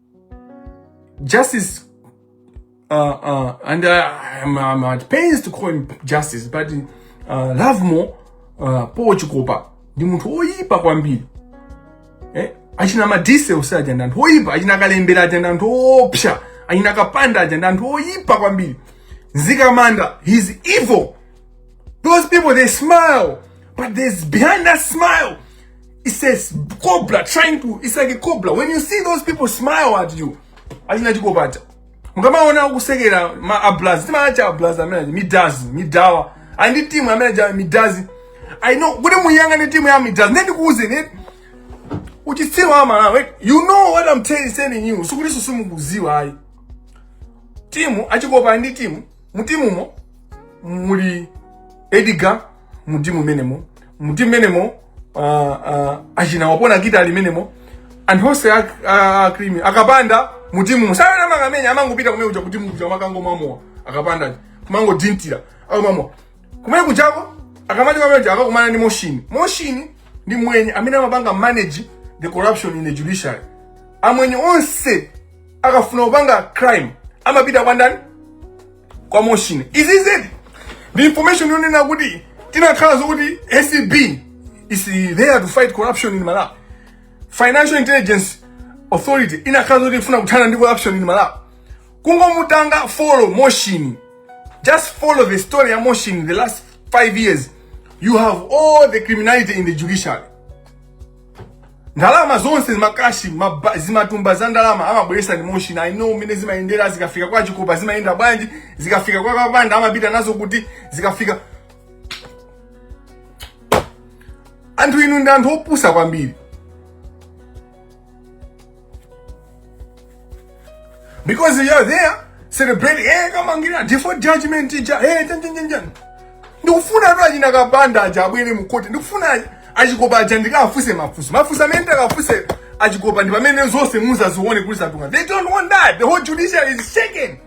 Justice, uh, uh, and I, am I'm, I'm at pains to call him Justice, but uh, Lovemore uh, Paul Chikopa ndi munthu oyipa kwambiri eh? achina Madise onse aja ndi anthu oyipa achina kalembera aja ndi anthu oopsa achina kapanda aja ndi anthu oyipa kwambiri Mzikamanda he's evil Those people, they smile, but there's behind that smile, there's a cobra trying to, it's like a cobra. When you see those people smile at you, achina Chikopa. mukamaona akusekera ma ablazi timawatcha ablazi amene midazi midawa ali ndi timu amene uja midazi i know kuti muyang'ane timu ya midazi ndi ndikuuzeni uchitsiru wa malawi you know what i'm telling telling you sikuti susimukuziwa ayi timu a Chikopa ndi timu mutimumo muli Edgar mutimu menemo mutimu menemo uh, uh, achina wapona kita ali menemo anthu onse a crime akapanda mutimumo sakhala akumenya amangopita kumene kuja kutimu kuja kukangomwa mowa akapanda kumangodyera akamamwa kumene kujako akamati kumene kuja akakumana ndi moshini moshini ndi mwenye amene amapanga manage the corruption in the judiciary amwenye onse akafuna kupanga crime amapita kwa ndani kwa moshini izizi ndi information yonena kuti tinakhala zokuti acb is there to fight corruption in malawi financial intelligence authority inakhala zoti ifuna kuthana ndi corruption in malawi kungomupanga follow moshini just follow the story ya moshini in the last five years you have all the criminality in the judiciary ndalama zonse zimakashi maba- zimatumba za ndalama amabweresa ndi Moshini i know mmene zimayendera zikafika kwa chikopa zimayenda bwanji zikafika kwa kapanda amapita nazo kuti zikafika anthu inu ndi anthu opusa kwambiri Because you are there, celebrate, eh, kama ngina, default judgment, teacher, eh, jan, jan, jan, jan. Ndikufuna tu ajina kabanda aja abwele mkote. Ndikufuna ajikopa aja ndika afuse mafuso. Mafuso amene ndika afuse ajikopa ndipa mene zose muza zuone kulisa tunga. They don't want that. The whole judiciary is shaken.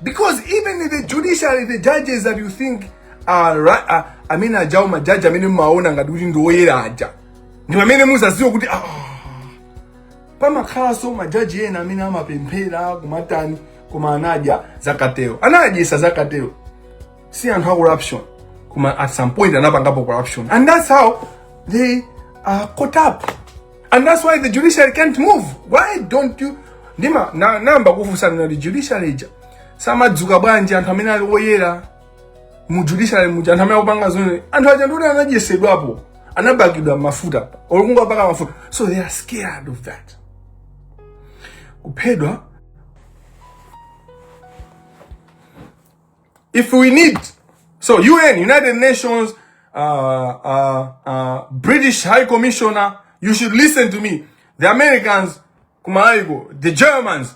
Because even in the judiciary, the judges that you think are, right, are I mean, aja, ma judge, I mean, maona, ngati kuti ndi oyera aja. Ndipa mene muza zio kuti, ah, pamakhalanso majaji ena amene amapemphera kumatani koma anadya zakatero anadyesedwa zakatero si anthu a corruption koma at some point anapangapo corruption and that's how they are caught up and that's why the judiciary can't move why don't you ndimanayamba kufunsa kuti judiciary ija samadzuka bwanji anthu amene ali oyera mu judiciary muja anthu amene akupanga zoona anthu aja ndi oti anadyesedwapo anapakidwa mafuta olunga paka mafuta so they are scared of that kuphedwa if we need so UN United Nations uh, uh, uh, British High Commissioner you should listen to me the Americans kumaiko the Germans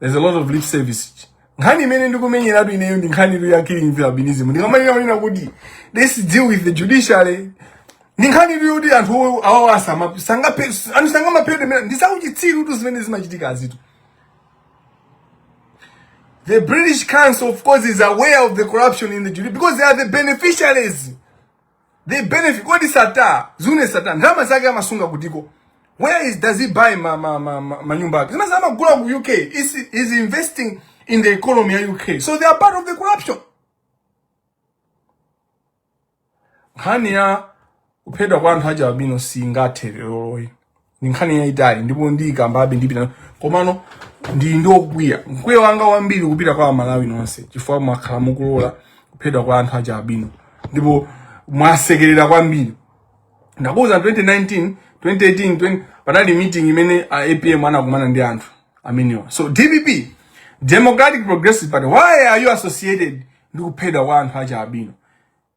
there's a lot of lip service nkhani imene ndikumenyeratu ineyo ndi nkhani tu ya killing with albinism ndikamanena kunena kuti let's deal with the judiciary ndi nkhani tu yoti anthu owo- awawo asama- sangape- anthu sangamaphedwe ndi zauchitsiru tu zimene zimachitika azitu The British Council, of course, is aware of the corruption in the judiciary because they are the beneficiaries. they benefit kodi Sattar Zuneth Sattar ndalama zake amasunga kutiko where is does he buy ma ma ma, ma, ma nyumba yake zimene amagula ku UK is is investing in the economy ya UK so they are part of the corruption nkhani ya kuphedwa kwa anthu achialubino singathe lero loli ndi nkhani yayitali ndipo ndiyikambabe ndipita komano ndine okwiya mkwiyo wanga wambiri ukupita kwa amalawi nonse chifukwa mwakhala mukulola kuphedwa kwa anthu achialubino ndipo mwasekerera kwambiri ndakuwuza 2019 2018 20, panali meeting imene a apm anakumana ndi anthu amenewa so dpp democratic progressive party why are you associated ndi kuphedwa kwa anthu achialubino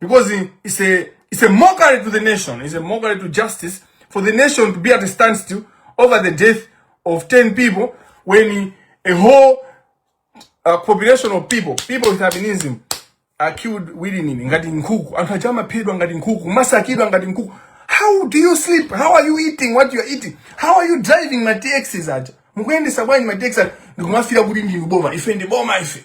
because it's a, it's a mockery to the nation, it's a mockery to justice for the nation to be at a standstill over the death of 10 people when a whole uh, population of people, people with albinism, are killed willingly ngati nkhuku anthu aja amaphedwa ngati nkhuku amasakidwa ngati nkhuku how do you sleep how are you eating what you are eating how are you driving ma taxis aja mukuyendesa bwanji ma taxi aja ndi kumafuula kuti ndinu boma ife ndi boma ife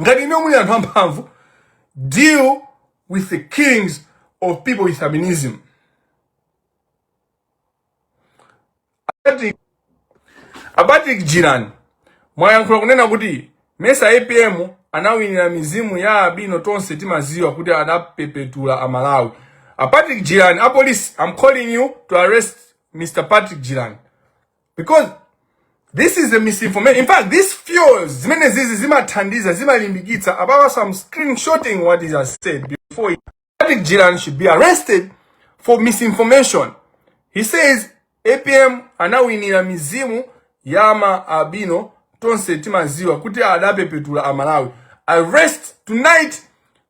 ngati inuyo muli anthu amphamvu deal with the killings of people with albinism a patrick jirani mwayankhula kunena kuti mesa apm anawinira mizimu ya albino tonse timaziwa kuti adapepetula amalawi a patrick jirani apolisi i'm calling you to arrest mr patrick jirani because this is a misinformation in fact this fuels zimene izizi zimathandiza zimalimbikitsa apapa am screenshotting what he has said before Patrick Jirani should be arrested for misinformation he says apm anawinira mizimu ya ma albino tonse timaziwa kuti adapepetula amalawi arrest tonight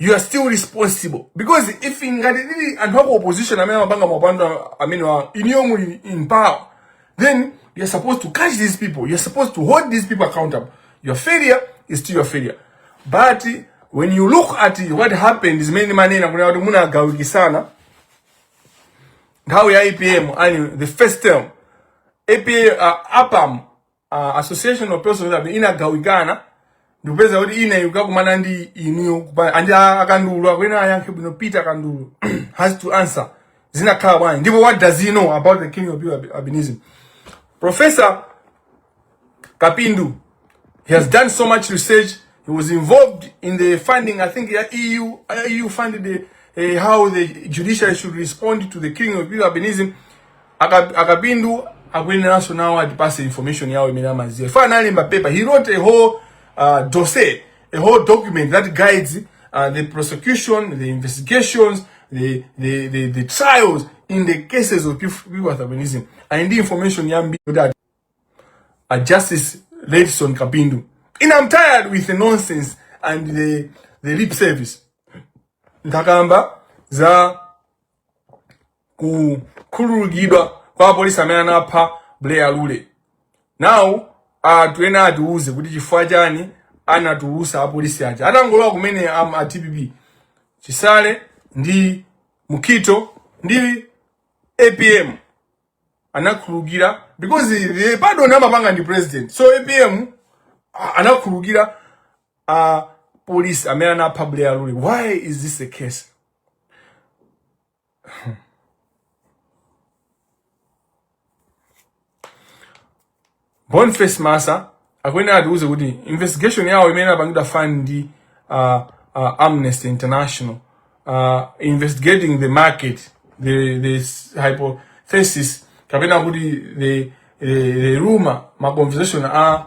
you are still responsible because if ngati ali anthu aku opposition amene amapanga maupandu amenewa inuyo muli in power then you are supposed to catch these people you are supposed to hold these people accountable your failure is still your failure but when you look at what happened zimene mumanena kunena kuti munagawikisana nthawi ya apm and the first term apa uh, apam uh, association of persons abe inagawikana ndikupeza kuti ine yukakumana ndi iniyo andi akandulu akwena ayankhe bwino peter akandulu has to answer zinakhala bwanji ndipo what does he know about the killing of people albinism professor kapindu he has done so much research he was involved in the funding i think the eu eu funded the, uh, how the judiciary should respond to the killing of people albinism Aka- akapindu akuyeneranso nawo atipase information yawo imene amaziwa ife analemba paper he wrote a whole uh, dossier a whole document that guides uh, the prosecution the investigations the, the, the, the trials in the cases of people with albinism and ndi information yambiri kuti ati- uh, Justice Redson Kapindu. And I'm tired with the nonsense and the, the lip service. Ndakamba za kukhululukidwa kwa apolisi amene anapha Buleya Lule. Now anthu ena atiuze kuti chifukwa chani anatulusa apolisi aja atangolowa kumene am a DPP Chisale ndi Mukito ndi APM anakhululukira because the pardon amapanga ndi president so APM a- anakhululukira a police amene anapha Buleya Lule. Why is this the case? Boniface Massa akuyenera atiuze kuti investigation yawo imene apangidwa fund ndi uh, uh, Amnesty International uh, investigating the market the, the hypothesis kapena kuti the, the, the rumor ma conversation a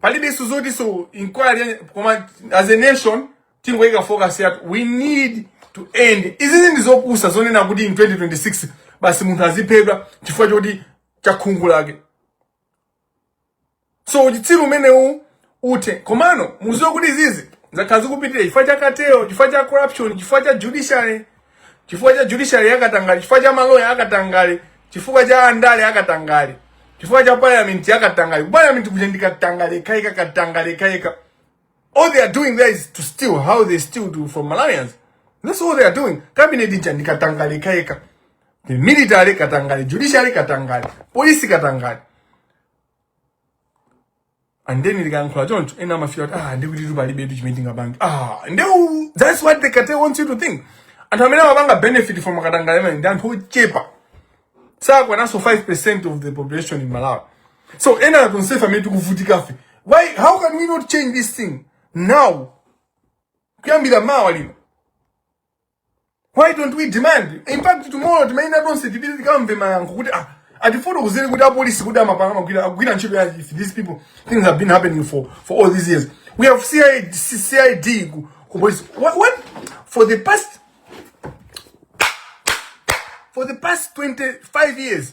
palibenso zoti nso inquiry koma as a nation tingoyika focus yathu we need to end izizi ndi zopusa zonena kuti in 2026 basi munthu aziphedwa chifukwa choti cha khungu lake so uchitsiru umenewu uthe komano muziwe kuti izizi zakhala zikupitirira chifukwa cha cartel chifukwa cha corruption chifukwa cha judiciary chifukwa cha judiciary yakatangale chifukwa cha maloya akatangale chifukwa cha andale akatangale chifukwa cha parliament yakatangale parliament kuja ndikatangale kaika katangale kaika all they are doing there is to steal how they steal to, from malawians that's all they are doing cabinet ija ndikatangale kaika the military katangale judiciary katangale polisi katangale and then likayankhula choncho ena amafila kuti ah ndikutitu palibetu chimene tingapange ah nde that's what the cartel wants you to think anthu amene amapanga benefit from katangale ameneyu ndi anthu ochepa sakwananso 5% of the population in malawi so ena tonsefe amene tikuvutikafe why how can we not change this thing now kuyambira mmawa lino Why don't we demand? In fact, tomorrow Timaina tonse tipite tikamve mayankho kuti ah atifotokozere kuti apolisi kuti amapanga amagwira agwira ntchito ya if these people, things have been happening for for all these years. We have CID, CID ku, ku police. What, what for the past for the past 25 years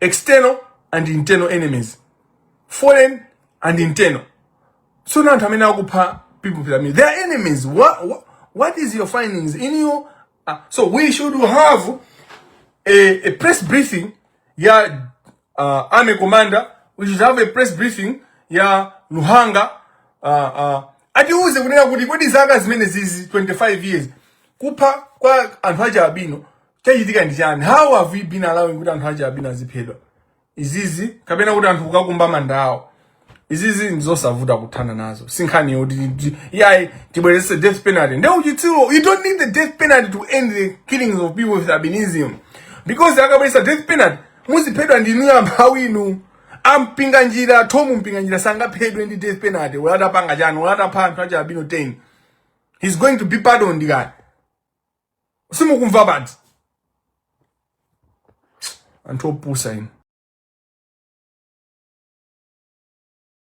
external and internal enemies foreign and internal so now amene akupha people pyramid they are enemies what, what, what is your findings in your uh, so we should have a, a press briefing ya uh, army commander we should have a press briefing ya luhanga uh, uh, atiuze kunena kuti kodi zaka zimene zizi 25 years kupha kwa anthu aja abino chachitika ndi chani how have we been allowing kuti anthu achialubino aziphedwa izizi kapena kuti anthu kukakumba manda awo izizi ndizosavuta kuthana nazo sinkhani yoti yayi tibwerese death penalty nde uchitsiru you don't need the death penalty to end the killings of people with albinism because akabweresa death penalty muziphedwa ndinu amphawi inu a Mpinganjira Thom Mpinganjira sangaphedwe ndi death penalty olo atapanga chani olo atapha anthu achialubino 10 he's going to be pardoned kani simukumva banthu anthu opusa inu